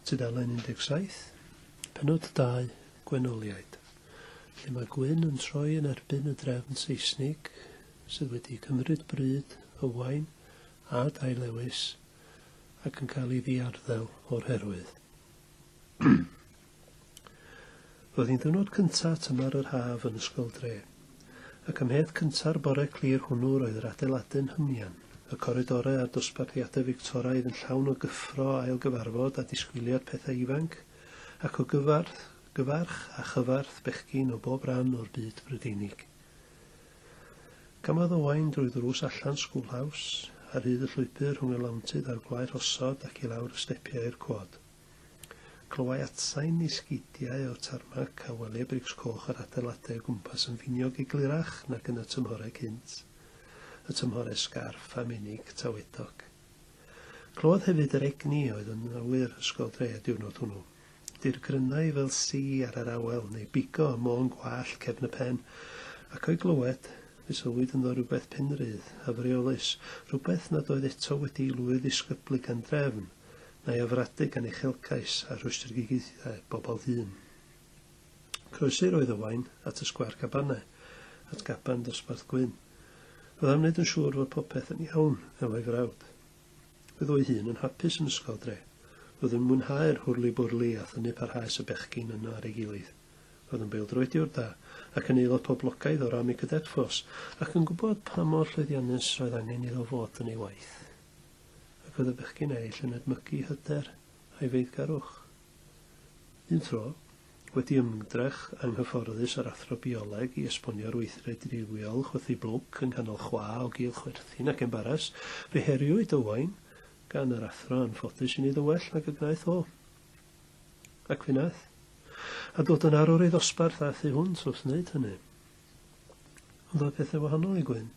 Tudalen 17, penod 2, gwenoliaid, lle mae Gwyn yn troi yn erbyn y drefn Seisnig sydd wedi cymryd bryd Ywain a Dai Lewis ac yn cael ei ddiarddel o'r herwydd. Roedd hi'n ddiwrnod cynta' tymor yr haf yn Ysgol Dre, ac ymhedd cynta'r bore clir hwnnw roedd yr adeilade'n hymian, y coridore a'r dosbarthiade Fictoraidd yn llawn o gyffro ail gyfarfod a disgwyliad pethau ifanc, ac o gyfarth, gyfarch a chyfarth bechgyn o bob ran o'r byd Brydeinig. Camodd Owain drwy ddrws allan Schoolhouse, ar hyd y llwybr rhwng y lawntydd a'r gwae rhosod ac i lawr y stepiau i'r cwod. Clywai atsain i sgidiau o'r tarmac a welia brics coch yr adeiladau o gwmpas yn finiog eglurach nag yn y tymhorau cynt, y tymhorau sgarff a menig tawedog. Clywodd hefyd yr egni a oedd yn awyr ysgol dre y diwrnod hwnnw. Dir grynnau fel si ar yr awel, neu bigo ym môn gwallt cefn y pen, ac o'i glywed, fe sylwyd ynddo rywbeth penrydd a freolus, rhywbeth nad oedd eto wedi'i lwydd-ddisgyblu gan drefn, Mae o frade gan uchelgais a rhwystredigaethau bobl hŷn. Croesir oedd Owain at y sgwâr cabanau, at gaban dosbarth gwyn. Oedd am wneud yn siŵr fod popeth yn iawn efo'i frawd. Oedd o'i hun yn hapus yn ysgol dre. Oedd yn mwynhau'r hwrli-bwrli a thynnu parhaus y bechgyn yno ar ei gilydd. Oedd yn bêl-droediwr da, ac yn aelod poblogaidd o'r Army Cadet Force, ac yn gwybod pa mor llwyddiannus roedd angen iddo fod yn ei waith. ac oedd y bechgyn eraill yn edmygu hyder a'i feiddgarwch. Un tro, wedi ymdrech anghyfforddus â'r athro bioleg i esbonio'r weithred driwiol chwythu blwc yng nghanol chwa o gul chwerthin ac embaras, fe heriwyd Owain gan yr athro anffodus i wneud yn well nag y gwnaeth o. Ac fe wnaeth. A dod yn arwr ei ddosbarth a thu hwnt wrth wneud hynny. Ond roedd pethau wahanol i Gwyn.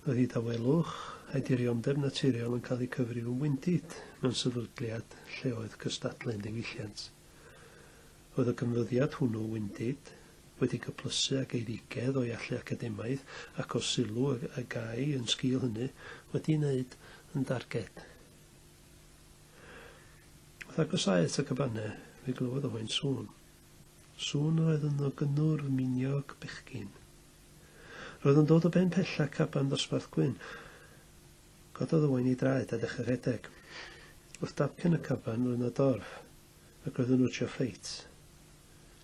Roedd ei dawelwch a'i dirionddeb naturiol yn cael eu cyfrif yn wyndid mewn sefydliad lle oedd cystadlu'n ddiwylliant. Roedd y canfyddiad hwnnw, wyndid, wedi cyplysu ag eirigedd o'i allu academaidd ac o'r sylw y gai yn sgil hynny, wedi'i wneud yn darged. Wrth agosáu at y cabanne, fe glywodd o hoen sŵn. Sŵn yr oedd ynddo gynnwrf miniog bechgyn. Roedd o'n dod o ben pella caban ddosbarth gwyn. Cododd Owain ei draed a dechrau rhedeg. Wrth damcen y caban roedd 'na dorf, ac roedd yn wtsio ffeit.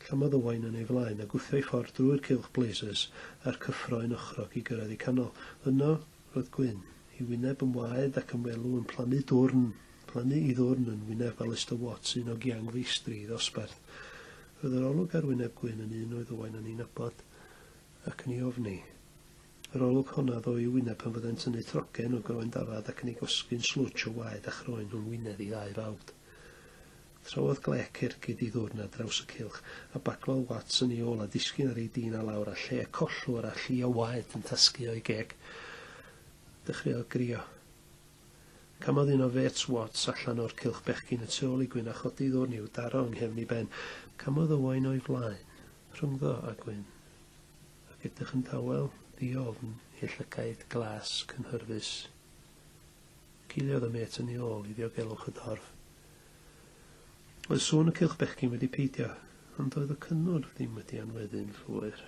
Llamodd Owain yn ei flaen a gwthio'i ffordd drwy'r cylch blazers a'r cyffro un ochrog i gyrraedd ei canol. Yno, roedd Gwyn, ei wyneb yn waed ac yn welw yn plannu dwrn, plannu i ddwrn yn wyneb Alistair Watts, un o giang feistri ei ddosbarth. Roedd yr olwg ar wyneb Gwyn yn un oedd Owain yn ei nabod. ac yn ei ofni. Yr olwg honna ddo i'w wyneb pan fyddai'n tynnu trogen o groen dafad ac yn ei gosgu'n slwtsh o waed a chroen rhwng wynedd ei ddau fawd. Trawodd glec ergyd i ddwrn ar draws y cylch, a baglodd Watts yn ei ôl a disgyn ar ei dîn a lawr a lle collwr a llu o waed yn tasgu o'i geg. Dechreuodd grio. Camodd un o Fates Watts allan o'r cylch bechgyn y tu ôl i Gwyn a chodi ddwrn i'w daro yng nghefn ei ben. Camodd Owain o'i flaen, rhyngddo a Gwyn, ac edrych yn dawel, ddi-ofn, ei llygaid glas, cynhyrfus. Ciliodd y mêt yn ei ôl i ddiogelwch y dorf. Oedd sŵn y cylch bechgyn wedi peidio, ond doedd y cynnwrf ddim wedi anweddu'n llwyr.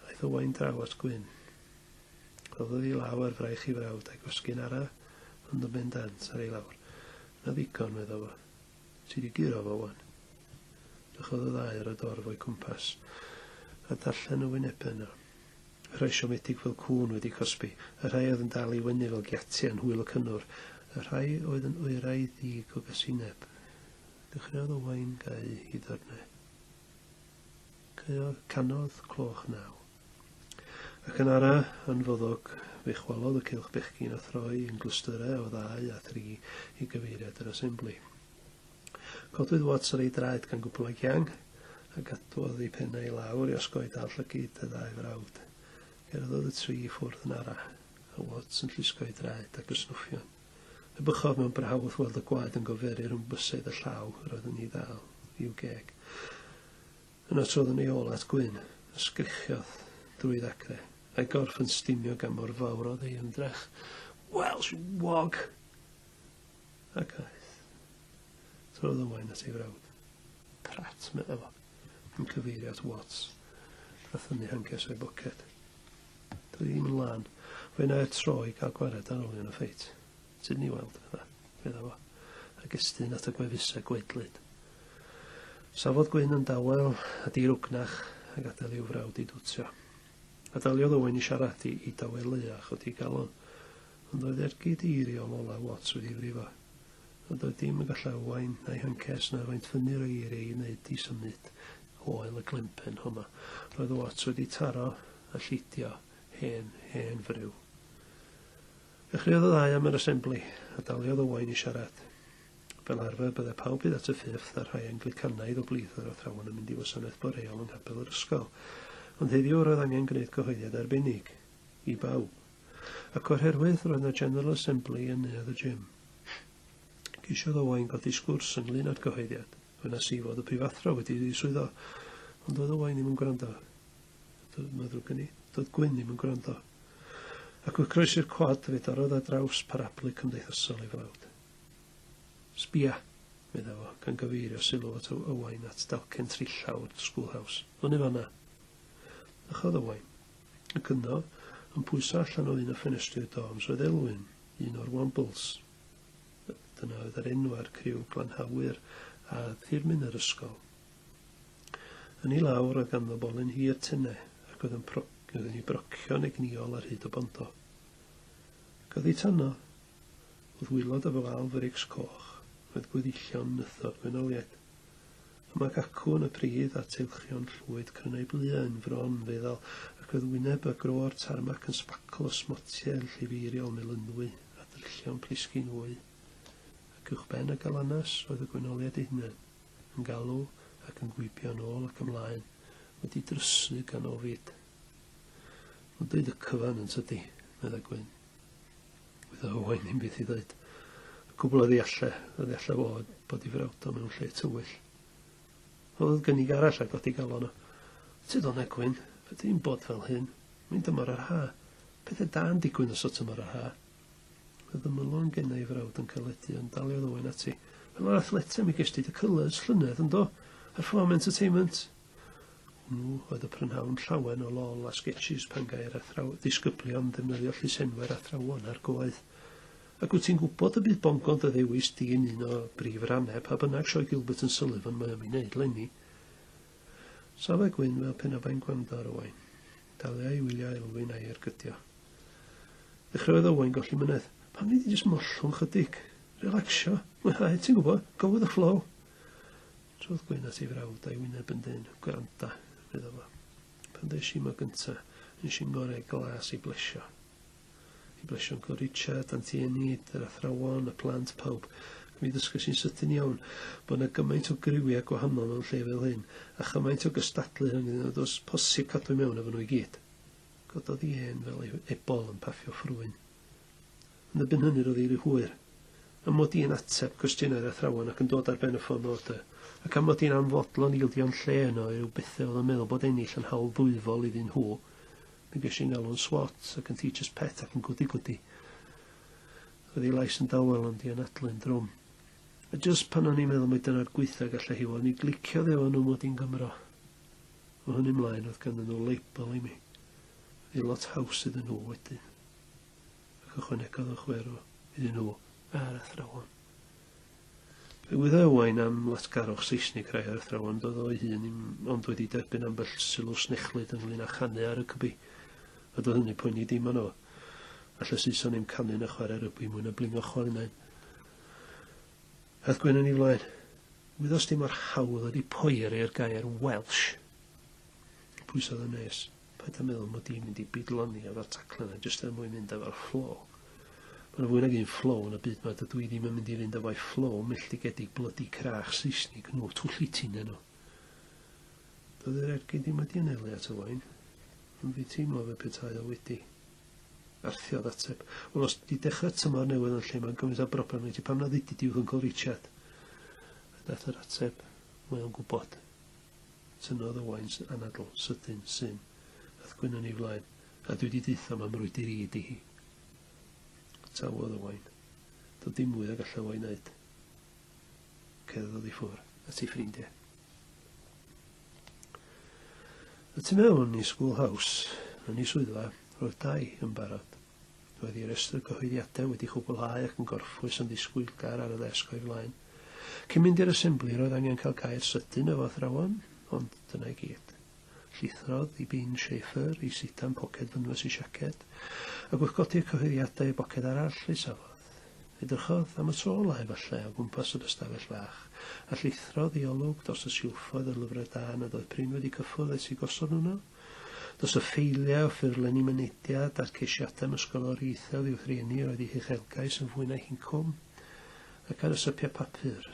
Aeth Owain draw at Gwyn. Rhoddodd i law ar fraich i frawd a'i gwasgu'n ara, ond yn bendant ar ei lawr. Na ddigon, medda fo. Ti di guro fo wan. Dychodd y ddau ar y dorf o'i cwmpas, a darllen y wynebau yno. Y rhai siomedig fel cŵn wedi cosbi, y rhai oedd yn dal i wynu fel giatiau'n hwyl y cynnwr, y rhai oedd yn oerau ddig o gasineb. Dechreuodd Owain gau i ddyrnau. Canodd cloch naw. Ac yn ara yn foddog fe chwalodd y cylch bechgyn a throi yn glystyrau o ddau a thri i gyfeiriad yr asembli. Codwyd Watts ar ei draed gan gwpl o giang, a gadwodd ei phen i lawr i osgoi dal llygid y ddau frawd. Cerddodd y tri i ffwrdd yn ara, a Watts yn llusgo'i draed ac yn snwffion. Y bychodd mewn braw wrth weld y gwaed yn goferu rhwng bysedd y llaw yr oedd yn ei ddal, i'w geg. Yna trodd yn ei ôl at Gwyn, a sgrichiodd drwy ddacre, a'i gorff yn stinio gan mor fawr oedd ei ymdrech. Welsh wog! Ac aeth. Trodd y wain at ei frawd. Prat, meddai fo, yn cyfeirio at Watts, a thynnu hancers o'i boced. Dw i ddim yn lân. Fe wna i'r tro i gael gwared ar olion y ffeit. Tyd ni weld, meddai. Fedda fo, a gestyn at y gwefusau gwaedlyd. Safodd Gwyn yn dawel a dirugnach a gadael i'w frawd i dwtio. A daliodd Owen i siarad i, i daweleu a chodi galon. Ond oedd ergyd eiriol olaf Watts wedi frifo. Nad oedd dim yn gallu arwain na'i hancest na faint fyny roi eiriau i wneud i symud o ael y glenpen honno. Roedd y lot wedi taro a llidio hen, hen friw. Dechreuodd y ddau am yr asembli, a daliodd Owain i siarad. Fel arfer, bydde pawb hyd at y ffifth a'r rhai Anglicanaidd o blith yr athrawon yn mynd i wasanaeth boreol yng nghapel yr ysgol. Ond heddiw roedd angen gwneud cyhoeddiad arbennig. I bawb. Ac oherwydd roedd 'na General Assembly yn neuadd y gym. Ceisiodd Owain godi sgwrs ynglŷn â'r gyhoeddiad. Gwenas i fod y prifathro wedi ei ddiswyddo, ond doedd Owain ddim yn gwrando. Mae ddrwg gen i. Doedd Gwyn ddim yn gwrando. Ac fe croesi'r cwad, fe dorrodd ar draws parablu cymdeithasol ei frawd. Sbia! medda fo, gan gyfeirio sylw at Owain at dalcen trillaw o'r schoolhouse. Fyny fanna! Dychodd Owain. Ac yno, yn pwyso allan o un o ffenestri'r dorms oedd Elwyn, un o'r Wombles. Dyna oedd yr enw ar criw glanhawyr a thirmyn yr ysgol. Yn ei lawr oedd ganddo bolyn hir tene, ac oedd yn pro- oedd yn ei brocio'n egnïol ar hyd y bondo. Ac oedd ei tanno, wrth wylod efo fal frics coch, oedd gweddillion nythod gwenoliaid. Am ac acw yn y pridd a teilchion llwyd crynau blua yn fron, feddal, ac oedd wyneb y gro o'r tarmac yn sbacl o smotiau llifeiriol melynwy a drillion plisgyn wy. Ac uwchben y galanas oedd y gwenoliaid eu hunain, yn galw ac yn gwibio yn ôl ac ymlaen, wedi drysu gan ofid. Nodwyd y cyfan, yntydi? meddai Gwyn. Wyddoch o hyn ddim byd i ddweud. Cwbl o ddeallau, a ddeallau fod bod i frawdol mewn lle tywyll. Oedd gynnig arall a godi galon o. Tyd o'n egwyn, ydy'n bod fel hyn, mae'n dymor yr ha. Pethau da'n digwyn os o tymor yr ha. Oedd y mylon gen ei frawd yn caledu, ond daliodd Owen ati. Fel yr athletau, mi gesti dy cylys llynedd, yndo? Yr foment y teimynt, Hwnnw oedd y prynhawn llawen o lol a sgetshis pan gai'r athraw- ddisgyblion ddefnyddio llysenwau'r athrawon ar goedd. Ac wyt ti'n gwybod y bydd bongo dy ddewis di yn un o brif rannau pa bynnag sioe Gilbert and Sullivan mae am ei wneud 'lenni. Safai Gwyn fel pe na bai'n gwrando ar Owain. Dalia i wylio Elwyn a'i ergydio. Dechreuodd Owain golli mynedd. Pam nei di jyst mollwng chydig? Relaxio? Mwynhau, ti'n gwybod, go with the flow. Trodd Gwyn at ei frawd a'i wyneb yn dyn. Gwranda, fyddo fo. Pan ddeis i ma gynta, nes i'n ngorau glas i blesio. I blesio yn Uncle Richard, Anti Enid, yr athrawon, y plant, pawb. Mi ddysgais i'n sydyn iawn bod yna gymaint o griwiau gwahanol mewn lle fel hyn, a chymaint o gystadlu rhyngddyn nhw, does posib cadw mewn efo nhw i gyd. Cododd i ên fel ei ebol yn paffio ffrwyn. Yn y bun hynny roedd ei ry hwyr. Am mod i yn ateb cwestiynau'r athrawon ac yn dod ar ben y ffôn o dy, ac am mod i'n anfodlon ildio'n lle yno i ryw bethe oedd yn meddwl bod ennill yn hawl ddwyfol iddyn nhw, mi gesh i'n alw'n swot, ac yn teacher's pet ac yn gwdi-gwdi. Roedd ei lais yn dawel ond i anadlu'n drwm. A jyst pan o'n i'n meddwl mai dyna'r gweitha gallai hi fod, mi gliciodd ef o nhw mod i'n Gymro. O hynny mlaen roedd ganddyn nhw label i mi. Roedd hi'n lot haws iddyn nhw wedyn. ac ychwanegodd y chwerw iddyn nhw a'r athrawon. Fe wydda Owain am latgarwch Seisnig rhai o'r athrawon, doedd o'i hun im ond wedi derbyn ambell sylw snechlyd ynglyn â chanu ar y cybi, a doedd hynny poeni dim ond o. All y Saeson im canu na chwarae rygbi mwy na blingo chwalunain. Ath Gwen yn ei flaen. Wyddos ti mor hawdd ydi poeri ar gair Welsh? Pwysodd y nes. Paid a meddwl mod i'n mynd i bidloni efo'r taclen a jyst er mwyn mynd efo'r flow. Mae yna fwy nag un flow yn y byd ma, dydw i ddim yn mynd i fynd efo'i flow milldigedig blydi crach Seisnig nhw, twll i ti neu nhw. Doedd yr ergyd ddim wedi anelu at y wain, ond fi teimlo fe petai o wedi. Arthiodd ateb. Wel, os di dechrau tymor newydd yn lle mae'n gymaint o broblem neu ti pam na ddudyd i'w Uncle Richard? A dath yr ateb, mae o'n gwybod. Tynnodd Owain sy'n anadl, sydyn, syn, a'th gwyn yn ei flaen, a dwi di deutho mam rwydir i ydi hi. Tawodd Owain. Doedd dim mwy a gallaf o'i wneud. Cerddodd i ffwr. A ti ffrindiau. Y tu mewn i School House, yn ei swyddfa, roedd dau yn barod. Roedd ei restr cyhoeddiadau wedi chwblhau ac yn gorffwys yn ddisgwylgar ar y ddesg o'i flaen. Cyn mynd i'r Assembli, roedd angen cael cau'r sydyn efo athrawon, ond dyna i gyd. Llithrodd i bin Schaefer, ei sitan poced fynwes ei siaced, ac wrth godi'r cyhoeddiadau i boced arall, ei safodd. Edrychodd, am y tro ola' efallai, o gwmpas yr ystafell fach, a llithrodd i olwg dros y silffoedd o'r lyfrau da nad oedd prin wedi cyffwrdd ers i gosod nhw 'no. Does y ffeiliau o ffurflenni mynediad a'r ceisiadau am ysgolor ieithoedd i'w rhieni oedd eu huchelgais yn fwy na'u hincwm, ac ar y sypiau papur,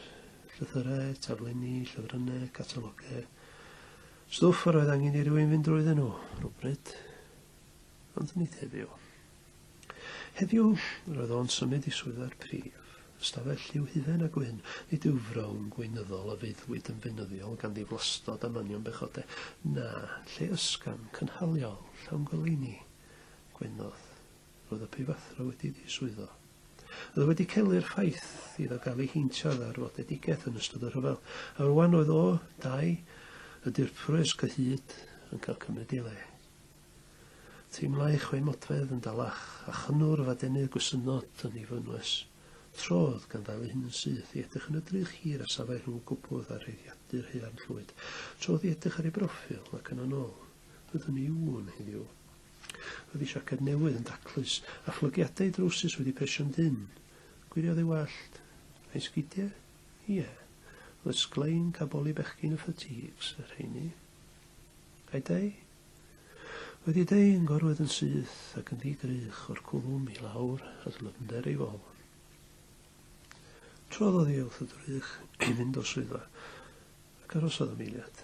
llythyrau, taflenni, llythrynau, catalogau, stwff yr oedd angen i rywun fynd drwydden nhw, rywbryd. Ond nid heddiw. Heddiw, yr oedd o'n symud i swyddfa'r prif, ystafell lliw hufen a gwyn, nid yw frown gweinyddol a feuddwyd yn feunyddiol gan ddiflastod a manion bechode, na, lle ysgafn, cynhaliol, llawn goleuni, gwenodd. Roedd y prifathro wedi diswyddo. Oedd o wedi celu'r ffaith iddo gael ei heintio â ddarfodedigaeth yn ystod y rhyfel, a rwan oedd o, dau, y dirprwys cyhyd, yn cael cymryd ei le. Teimlai chwe modfedd yn dalach, a chynnwrf a denydd gwysynod yn ei fynwes. Trodd, gan ddal ei hun yn syth, i edrych yn y drych hir a safai rhwng y gwpwth a rheiddiadur haearn llwyd. Trodd i edrych ar ei broffil, ac yna'n ôl. Byddwn i ŵan, heddiw. Roedd ei siaced newydd yn daclus, a phlygiadau ei drowsus wedi presio'n dynn. Gwiriodd ei wallt. A'i sgidiau? Ie. Roedd sglein caboli bechgyn y fatigues, y rheiny. A'i dai? Wedi deu yn gorwedd yn syth ac yn ddi-grych o'r cwlwm i lawr at y lymder ei fol. Trwyddodd i wrth y drych i fynd o swyddfa, ac arosodd am eiliad.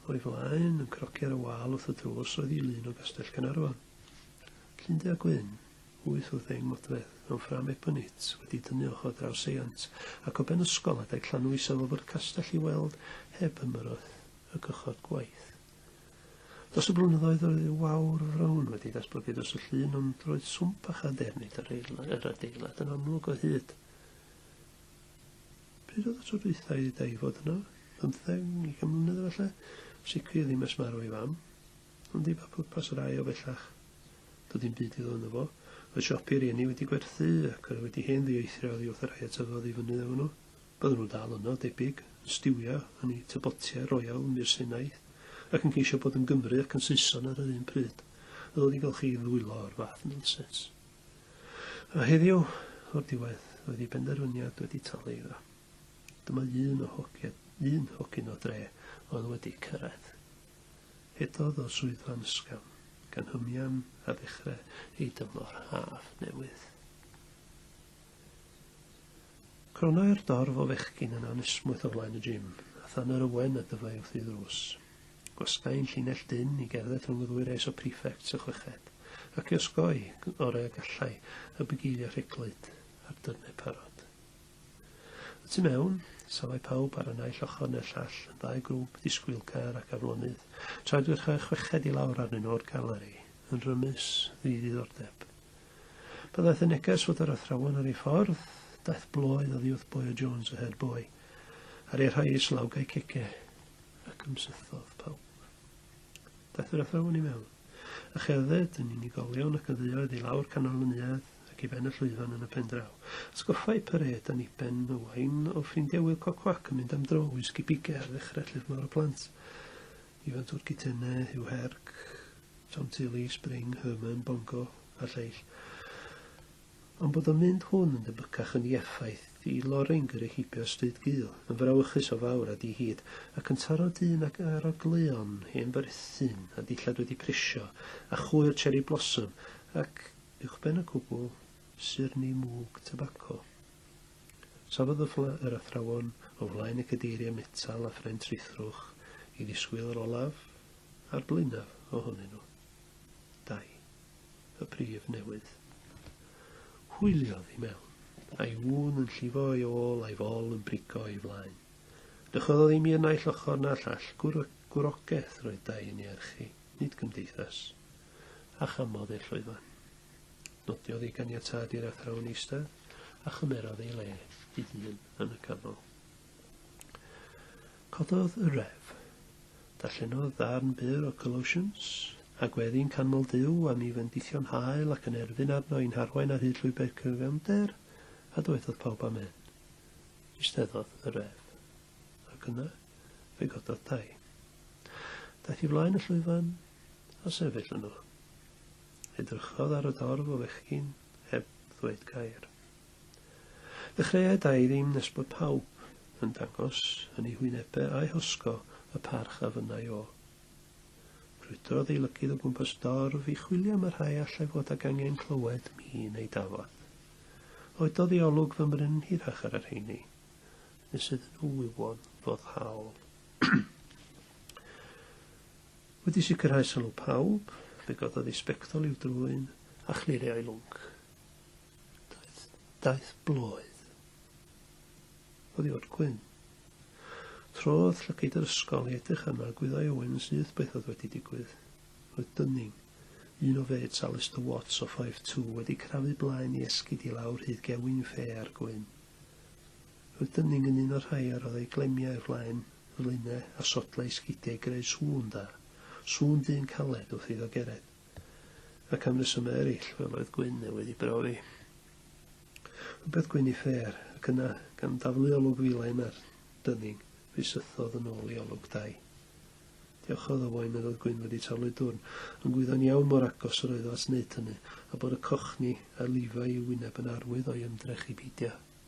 O'i flaen, yn crogi ar y wal wrth y drws, oedd i lun o Gastell Caernarfon. Llundy a gwyn, wyth wrth ddeng modfedd, mewn ffram ebonit, wedi dynnu ochr draw seiant, ac o ben ysgol adeg llanw isel o fwrdd castell i weld, heb ymyrraeth, y cychod gwaith. Dros y blynyddoedd roedd y wawr frown wedi datblygu dros y llun ond roedd swmp a chadernid yr adeilad yn amlwg o hyd. Pryd oedd y tro dwytha i da i fod yna? Bymtheg, ugain mlynedd efallai? Sicr ddim ers marw ei fam. Ond di ba pwrpas yr aio bellach? Doedd dim byd i ddod yno fo. Roedd siopi rieni wedi gwerthu ac yr wedi hen ddieithrio oddi wrth y rhai a tyfodd i fyny efo nhw. Bydden nhw dal yno, debyg, yn stiwio yn eu tybotiau royal yn Mur Sinai, ac yn ceisio bod yn Gymry ac yn Saeson ar yr un pryd. Oedd o ddigon chi i ddwylo o'r fath nonsens? A heddiw, o'r diwedd, roedd ei benderfyniad wedi talu iddo. Dyma un o hogia, un hogyn o dre oedd wedi cyrraedd. Hedodd o swyddfa'n ysgafn, gan hymian a ddechrau ei dymor haf newydd. Cronnai'r dorf o fechgyn yn anesmwyth o flaen y gym, a thân yr ywen a dyfai wrth ei ddrws. Gwasgai un llinell dynn i gerdded rhwng y ddwy res o prefects a chweched, ac i osgoi, yn orau a gallai, y bugeil a rheglwyd, a'r dyrnau parod. Y tu mewn, safai pawb ar y naill ochr neu'r llall, yn ddau grŵp disgwylgar ac aflonydd, tra edrychai chweched i lawr arnyn nhw o'r galeri, yn rymus, ddi-ddiddordeb. Pan ddaeth y neges fod yr athrawon ar ei ffordd, daeth blwydd oddi wrth boi o Jones a head boy, ar ei rhai islawgau cege, ac ymsythodd pawb. Daeth yr athrawon i mewn, a cherdded yn unigolion ac yn dduoedd i lawr canol y neuadd ac i ben y llwyfan yn y pen draw. Sgoffai Pered yn Iben Owain o ffrindiau Wil Cocwac yn mynd am dro i Sgipige ar ddechrau Llyfr Mawr y Plant. Ifantodd Kitene, Huw Herc, Tom Tilley, Spring, Herman, Bongo a lleill. Ond bod y mynd hwn yn debycach yn ei effaith i Loring gyda'i heibio stryd gul, yn frawychus o fawr a di-hid, ac yn taro dyn ag arogleuon hen fyrthyn a dillad wedi prisio, a chwyr cherry blossom, ac, uwchben y cwbl, syrni mwg tybaco. Safodd y ffla yr athrawon o flaen y cadeiriau metal a phren trithrwch i ddisgwyl yr olaf a'r blaenaf ohonyn nhw. Dau. Y prif newydd. Hwyliodd i mewn, a'i ŵn yn llifo ei ôl a'i fol yn brigo ei flaen. Dychwelodd imi yn naill ochr na llall, gwrogeth roedd dau i ni erchu, nid cymdeithas. A chamodd ei llwyfan. Nodiodd ei ganiatâd i'r athrawon eistedd a chymerodd ei le ei hun yn y canol. Cododd y ref. Darllenodd ddarn byr o Colossians, a gweddi'n canmol Duw am ei fendithion hael ac yn erfyn arno i'n harwain ar hyd llwybr cyfiawnder, a dywedodd pawb amen. Eisteddodd y ref. Ac yna, fe gododd dau. Daeth i flaen y llwyfan a sefyll yno. Edrychodd ar y dorf o fechgyn heb ddweud gair. Ddechreuaid-ai ddim nes bod pawb yn dangos yn eu hwynebe a'u hosgo y parch a fynnai o. Brwydrodd ei lygydd o gwmpas dorf i chwilio am y rhai allai fod ag angen clywed mi neu Dafod. Oedodd ei olwg fymryn hirach ar y rheini, nes iddyn nhw wywo'n foddhaol. Wedi sicrhau sylw pawb, fe gododd ei sbectol i'w drwyn a chlirio ei lwnc. Daeth, daeth blwydd. Oddi fod gwyn. Trodd llygaid yr ysgol i edrych arno a gwyddai Owen yn syth beth oedd wedi digwydd. Roedd Dunning, un o fêts Alistair Watts o Fife Two, wedi crafu blaen i esgid i lawr hyd gewyn ffe ar Gwyn. Rydym ni'n ymuno rhai a roddai glemiau i'r flaen, flaenau a sodlau sgidiau i greu sŵn da, sŵn dyn caled wrth iddo gered. Ac am resymau eraill, fel oedd Gwyn neu wedi brofi rhywbeth gwyn i fer, ac yna, gan daflu olwg filai na'r dynning, fe sythodd yn ôl i olwg dai. Diolchodd o foi meddwl Gwyn wedi taflu dwrn, yn gwyddon iawn mor agos yr oeddo at wneud hynny, a bod y cochni a lifai i'w wyneb yn arwydd o'i ymdrech i beidio.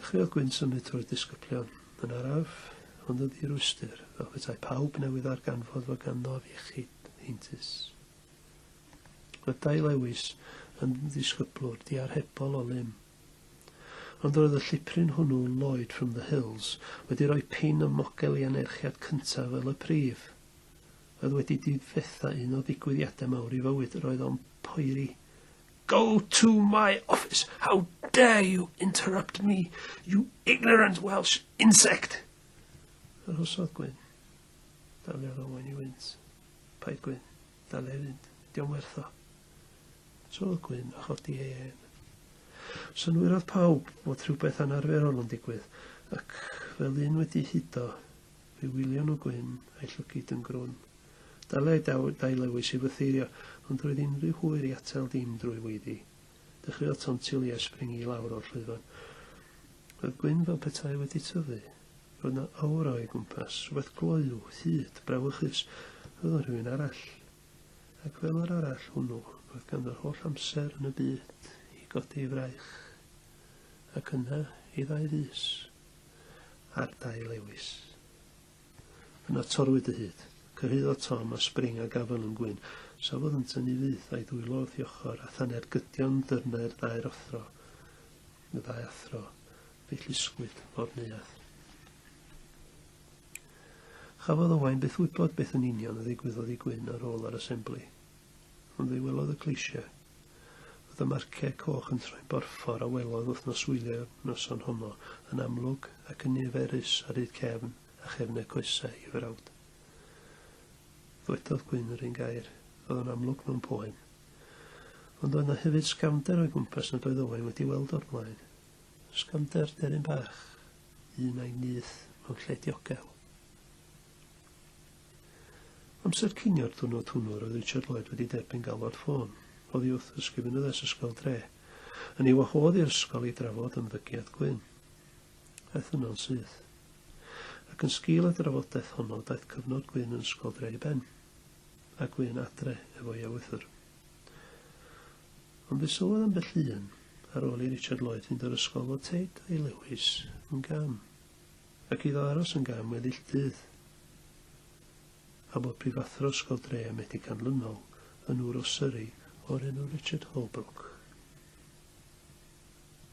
Dechreuodd Gwyn symud trwy'r disgyblion, yn araf, ond yn ddi-rwystr, fel petai pawb newydd ddarganfod fod ganddof iechyd heintus. Byddai Lewis yn ddisgyblwr diarhebol o lym. Ond roedd y llipryn hwnnw Lloyd from the Hills wedi rhoi pin ym mogel i anerchiad cyntaf fel y prif. Oedd wedi difetha un o ddigwyddiadau mawr i fywyd, roedd o'n poeri Go to my office! How dare you interrupt me, you ignorant Welsh insect! Yr hosodd gwyn. Daliodd Owen i wynt. Paid gwyn. Dal ei fynd. Diom werth o. Trodd gwyn a chodi ei hen. Synwyrodd pawb bod rhywbeth anarferol yn digwydd, ac fel un wedi hudo, fe wylio nhw gwyn a'i llygid yn grwn. Dylai daw dailywys i fytheirio, ond roedd unrhyw hwyr i atal dim drwy weiddi. Dechreuodd tontio Lee espringu i lawr o'r llwyfan. Roedd Gwyn fel petai wedi tyfu. Roedd na aura o'i gwmpas, rhywbeth gloyw, hud, brawychus. Roedd o'n rhywun arall. Ac fel yr arall hwnnw, roedd ganddo'r holl amser yn y byd i godi ei fraich. Ac yna, i ddau fis. A'r dailewis. Yna torrwyd y hud. Cyrhaeddodd Tom a Spring a Gavin yn gwyn. Safodd yntau ni fyth, a'i ddwylo wrth ei ochr, a thane'r gydion dyrnau'r ddau rothro, y ddau athro. Fe'i llusgwyd mor neuadd. Chafodd Owain byth wybod beth yn union a ddigwyddodd i Gwyn ar ôl yr asembli. Ond fe welodd y Cleisiau fod y Marciau Coch yn troi'n borffor a welodd wythnos wylio'r noson honno yn amlwg ac yn niferus a rhydd cefn a chefn eu coesau i frawd. Ddwedodd Gwyn yr un gair, oedd o'n amlwg mewn poen. Ond oedd na hefyd sgamder o'i gwmpas nad oedd Owain wedi weld o'r blaen. Sgamder deryn bach, un a'i nyth mewn lle diogel. Amser cinio'r diwrnod hwnnw roedd Richard Lloyd wedi derbyn galwad ffôn oddi wrth Ysgrifennydd es Ysgol Dre yn ei wahodd i'r ysgol i drafod ymddygiad Gwyn. Aeth yno'n syth. Ac yn sgil y drafodaeth honno daeth cyfnod Gwyn yn Ysgol Dre i ben. A Gwyn adre efo'i ewythr. Ond fe sylwodd ambell un, ar ôl i Richard Lloyd fynd o'r ysgol fod Tate a'i Lewis yn gam. Ac iddo aros yn gam weddill dydd. A bod prifathro Ysgol Dre a Medi Canlynol yn ŵr o Surrey o'r enw Richard Holbrook.